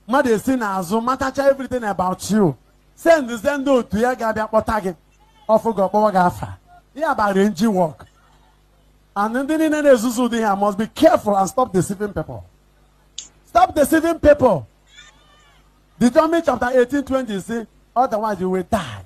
mmadụ esi n'azụ matacha everything about you sendụzie ndị otu ya ga-abịa kpọta gị ọ fụ gị ọ kpọwa gị afa ya bụ arrange work and ndị niile na-ezuzu ụdị ha must be careful and stop deceiving people stop deceiving people Deuteronomy chapter 18 20 say otherwise you will die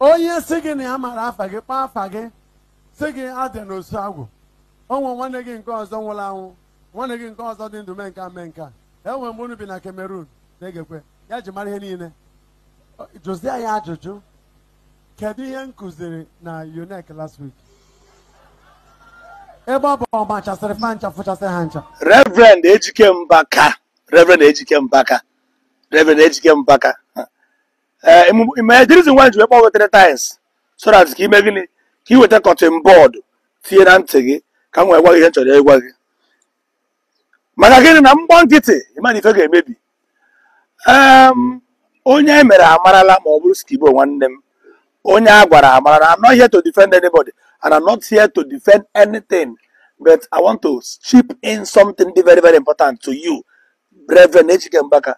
onye sị gị na ya mara afa gị kpọọ afa gị sị gị adị n'osu agwụ o nwe nwanne gị nke ọzọ nwụrụ anwụ nwanne gị nke ọzọ dị ndụ mee nka mee nka e nwe mgbe unu bi na Cameroon na-egekwe ya ji mara ihe niile jụzie ya ajụjụ kedu ihe m kụziri na UNEC last week ebe ọ bụ ọ machasịrị fa ncha fụchasị ha ncha Reverend Ejike Mbaka Reverend Ejike Mbaka Reverend Ejike Mbaka ee eh, ma the reason why m ji wee kpọọ gị three times so that ka i mee gịnị ka i weta cotton bud tinye na ntị gị ka m wee gwa gị ihe m chọrọ ịgwa gị maka gịnị na m gba nkịtị ị ma na ife ga-emebi onye e mere amarala ma ọ bụrụ skibo nwanne m onye a gwara amarala I'm not here to defend anybody and I'm not here to defend anything but I want to chip in something very very important to you Reverend Ejike Mbaka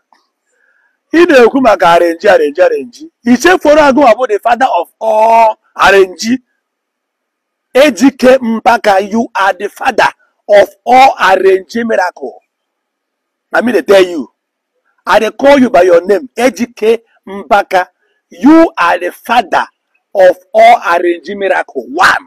ị na-ekwu maka arenji arenji arenji ichefuru agụwa bụ the father of all arenji ejike mpaka you are the father of all arenji miracle na me dey tell you i dey call you by your name ejike mpaka you are the father of all arenji miracle one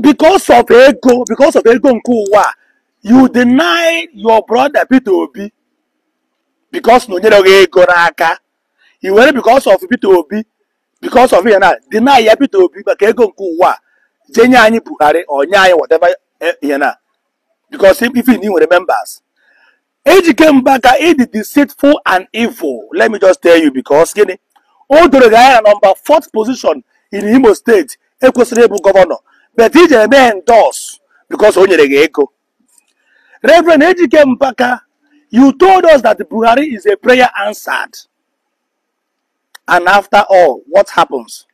because of ego because of ego nke ụwa you deny your brother Peter Obi because na o nyerọ gị ego n'aka i were because of Peter Obi because of ya na deny ya Peter Obi maka ego nke ụwa jee nye anyị Buhari or nye anyị whatever ya na because ị fụ na i nwere members Ejike Mbaka ị dị deceitful and evil let me just tell you because gịnị o doro gị anya na number 4th position in Imo State ekwesịrọ ịbụ governor but i jere endorse because o nyere gị ego Reverend Ejike Mbaka you told us that Buhari is a prayer answered and after all what happens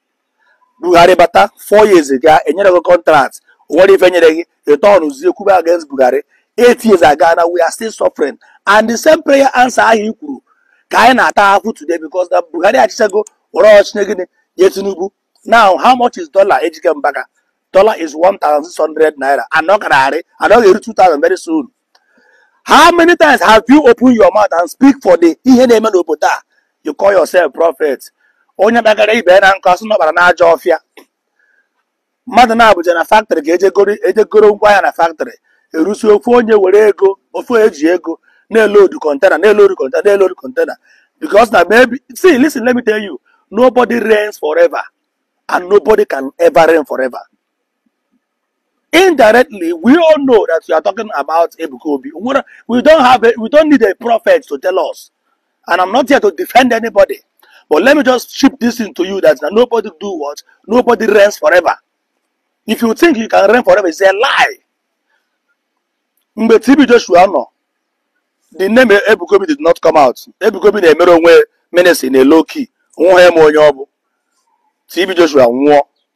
Buhari bata four years ago enyerọ gị contract o nwerọ ife e nyere gị ị turnzie kwube against Buhari eight years ago now we are still suffering and the same prayer answer ahụ i kwuru ka anyị na-ata ahụhụ today because na Buhari achịchago were oche nye gịnị nye Tinubu now how much is dollar Ejike Mbaka dollar is 1600 naira and ọ kararị and ọ ga-eru 2000 very soon how many times have you opened your mouth and speak for the ihe na-eme n'obodo a you call yourself prophet onye kpakarị ibe ya na nkụ a sị na ọ kpara n'ajọ ọfịa mmadụ naabọ jee na factory ka e je goro ngwa ahịa na factory e rusi ofu onye nwere ego ofu onye ji ego na-elodu container na-elodu container na-elodu container because na maybe see listen let me tell you nobody reigns forever and nobody can ever reign forever indirectly we all know that you are talking about Ebuka Obi we don't have a, we don't need a prophet to tell us and I'm not here to defend anybody but let me just chip this into you that nobody do what nobody reigns forever if you think you can reign forever it's a lie mgbe TB Joshua nọ the name Ebukobi did not come out Ebukobi na-emere onwe ministry na low key nwa ya ma onye ọ bụ TB Joshua nwụọ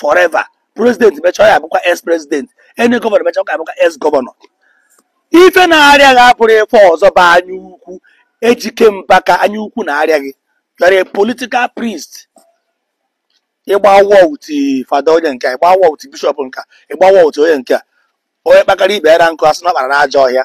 forever president mecha ọ ya abụkwa ex president any gọvanọ mecha ọ ga abụkwa ex gọvanọ ife na-arịa gị abụrọ ife ọzọ bụ anya ukwu Ejike Mbaka anya ukwu na-arịa gị you're a political priest ị gba war with fada onye nke a ị gba war with bishọp nke a ị gba war with onye nke a onye kpakara ibe ya na nkụ a sị na ọ kpara n'ajọ ọhịa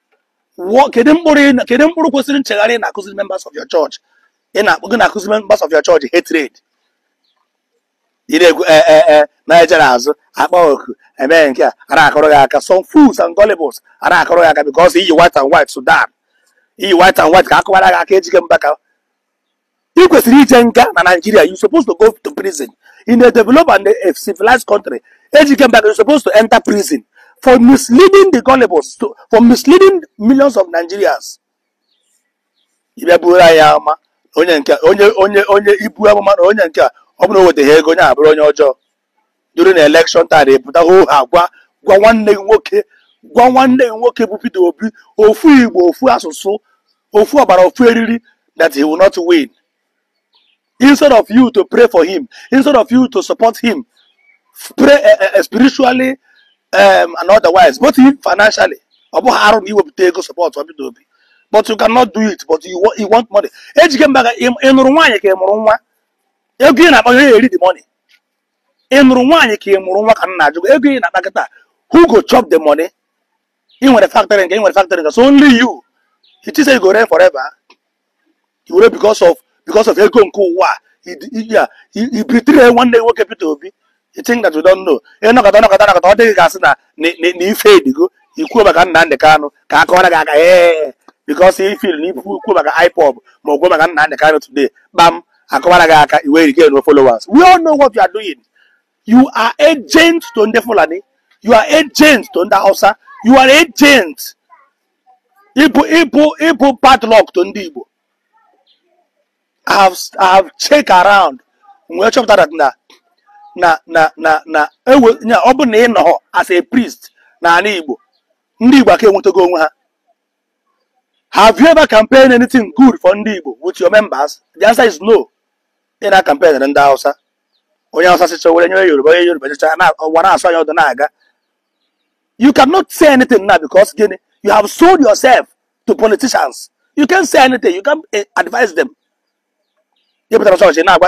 Wụọ kedu mkpụrụ ị na- kedu mkpụrụ kwesịrị nchegharị ị na-akụziri members of your church ị na-akụ- ị na-akụziri members of your church hatred ị na-ekwu ee ee ee na-ejere azụ akpa oku emee nke a a na-akụrụ gị aka some fools and gullibles a na-akụrụ gị aka because i yi white and white soutane i yi white and white ka a kụwara gị aka Ejike Mbaka ị kwesịrị ije nga na Nigeria you supposed to go to prison in a developed and a civilized country Ejike Mbaka you supposed to enter prison for misleading the gullibles to, for misleading millions of Nigerians ị bịa buru anyị amụma na onye nke a- onye onye onye i bu amụma na onye nke a ọ bụrụ na o wetaghị ego onye a abụrụ onye ọjọọ during the election time ị pụta hoo haa gwa gwa nwanne gị nwoke gwa nwanne gị nwoke bụ Peter Obi ofu Igbo ofu asụsụ ofu ọbara ofu eriri that he will not win instead of you to pray for him instead of you to support him pray uh, uh, spiritually um, and otherwise both financially ọ bụghị arụ ma i wepụta ego support Peter Obi but you cannot do it but you, you want money Ejike Mbaka ị nụrụ nwaanyị ka ị mụrụ nwa ego ị na-akpa onye ya-eri the money ị nụrụ nwaanyị ka ị mụrụ nwa ka m na-ajụ gị ego ị na-akpa kịta who go chop the money ị nwere factory nke ị nwere factory nke so only you it is you go reign forever you will because of because of ego nke ụwa a i betray nwanne nwoke Peter Obi you think that you don't know ị nọkọta nọkọta nọkọta ọ dị gị ka a sị na na ị fade-igo i kwuo maka Nnamdi Kanu ka a kụwara gị aka ee because ị feel na i kwuo maka IPOB ma ọ bụ kwuo maka Nnamdi Kanu today kpam a kụwara gị aka i nwekwuo followers we all know what you are doing you are agent to ndị Fulani you are agent to ndị Hausa you are agent ị bụ ị bụ ị bụ padlock to ndị Igbo I have, I have checked around wee chọpụtara na na na na na ewe ọ bụ na ị nọhọ as a priest n'ala Igbo ndị Igbo aka enwetago onwe ha Have you ever campaigned anything good for ndị Igbo with your members? The answer is no. Ị na campaign ndị Hausa. Onye Hausa chịchaa were nye Yoruba, onye Yoruba chịchaa na ụwa na-asụ anya ọdụ na-aga. You cannot say anything now because gịnị? You have sold yourself to politicians. You can't say anything. You can't eh, advise them. Ị pụtara chọọchị na-agwa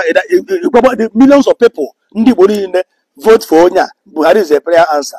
the millions of people ndị Igbo niile vote for onye a Buhari is a prayer answer.